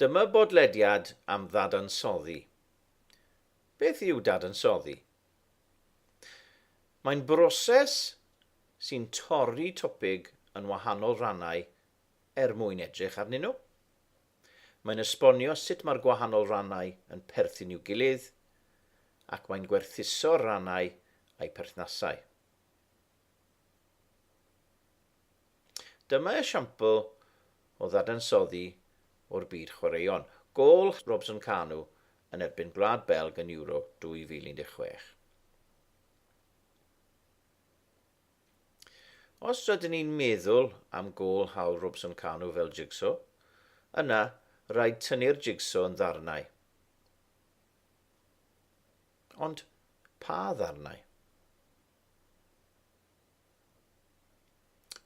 Dyma bodlediad am ddadansoddi. Beth yw dadansoddi? Mae'n broses sy'n torri topig yn wahanol rannau er mwyn edrych arnyn nhw. Mae'n esbonio sut mae'r gwahanol rannau yn perthyn i'w gilydd ac mae'n gwerthuso'r rannau a'u perthnasau. Dyma esiampl o ddadansoddi o'r byd chwaraeon, gôl Robson Kanu yn erbyn Gwlad Belg yn Euro 2016. Os rydyn ni'n meddwl am gôl hawl Robson Kanu fel jigso, yna rhaid tynnu'r jigso yn ddarnau. Ond pa ddarnau?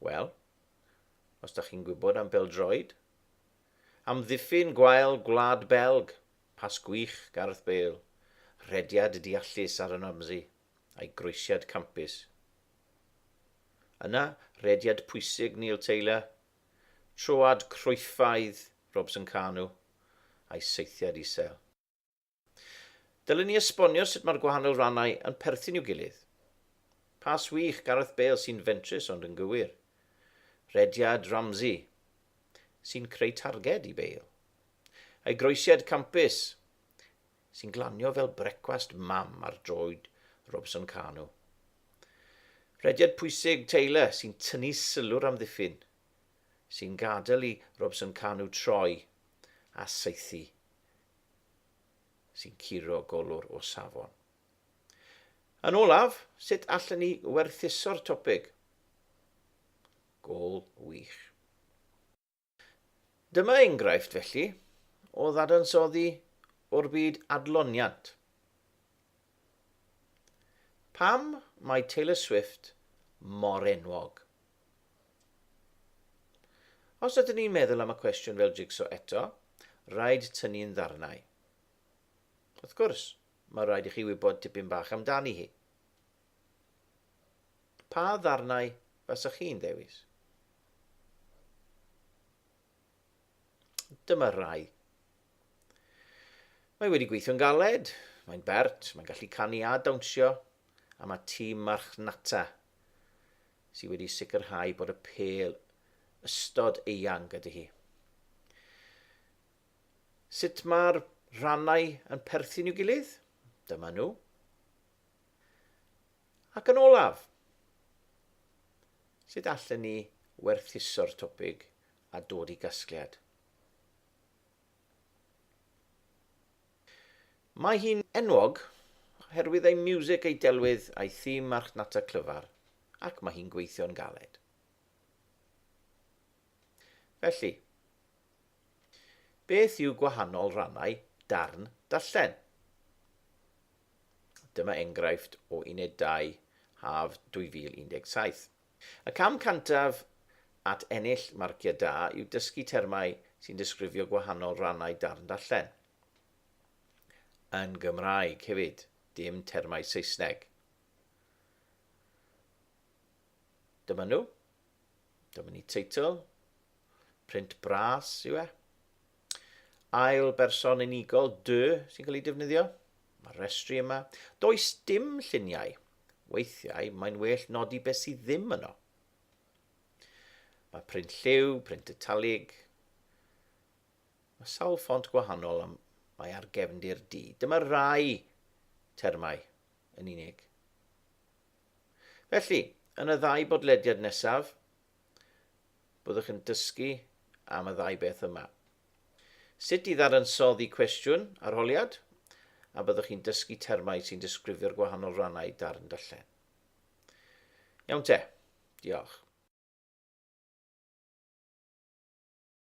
Wel, os da chi'n gwybod am beldroed, amddiffyn gwael Gwlad Belg, pas gwych Gareth Bale, rhediad deallus Aaron Ramsey, a'i groesiad campus. Yna, rediad pwysig Neil Taylor, troad croefaidd Robson Kanu, a'i saethiad isel. Dylen ni esbonio sut mae'r gwahanol rannau yn perthyn i'w gilydd. Pas wych Gareth Bale sy'n fentrus ond yn gywir. Rediad Ramsey, sy'n creu targed i Bale. Ei groesiad campus, sy'n glanio fel brecwast mam ar droed Robson Kanu. Rhediad pwysig Taylor sy'n tynnu sylw'r amddiffyn, sy'n gadael i Robson Kanu troi a saethu, sy'n curo golwr o safon. Yn olaf, sut allen ni werthuso'r topig? Gol wych. Dyma enghraifft, felly, o ddadansoddi o'r byd adloniant. Pam mae Taylor Swift mor enwog? Os ydyn ni'n meddwl am y cwestiwn fel jigso eto, rhaid tynnu'n ddarnau. Wrth gwrs, mae rhaid i chi wybod tipyn bach amdani hi. Pa ddarnau fasech chi'n dewis? Dyma rai. Mae wedi gweithio'n galed, mae'n bert, mae'n gallu canu a dawnsio, a mae tîm marchnata sydd wedi sicrhau bod y pel ystod eang ydy hi. Sut mae'r rhannau yn perthyn i'w gilydd? Dyma nhw. Ac yn olaf, sut allen ni werthuso'r topig a dod i gasgliad? Mae hi'n enwog oherwydd ei miwsig, ei delwydd a'i thîm marchnata clyfar, ac mae hi'n gweithio'n galed. Felly, beth yw gwahanol rannau darn darllen? Dyma enghraifft o unedau haf 2017. Y cam cyntaf at ennill marciau da yw dysgu termau sy'n disgrifio gwahanol rannau darn darllen. Yn Gymraeg hefyd, dim termau Saesneg. Dyma nhw. Dyma ni teitl. Print bras yw e. Ail berson unigol, dy, sy'n cael ei defnyddio. Mae'r restri yma. Does dim lluniau. Weithiau, mae'n well nodi beth sydd ddim yno. Mae print lliw, print italig. Mae sawl ffont gwahanol am mae ar gefndir D. Dyma rai termau yn unig. Felly, yn y ddau bodlediad nesaf, Byddwch yn dysgu am y ddau beth yma. Sut i ddadansoddi cwestiwn arholiad, a byddwch chi'n dysgu termau sy'n disgrifio'r gwahanol rannau darn darllen. Iawn te, diolch.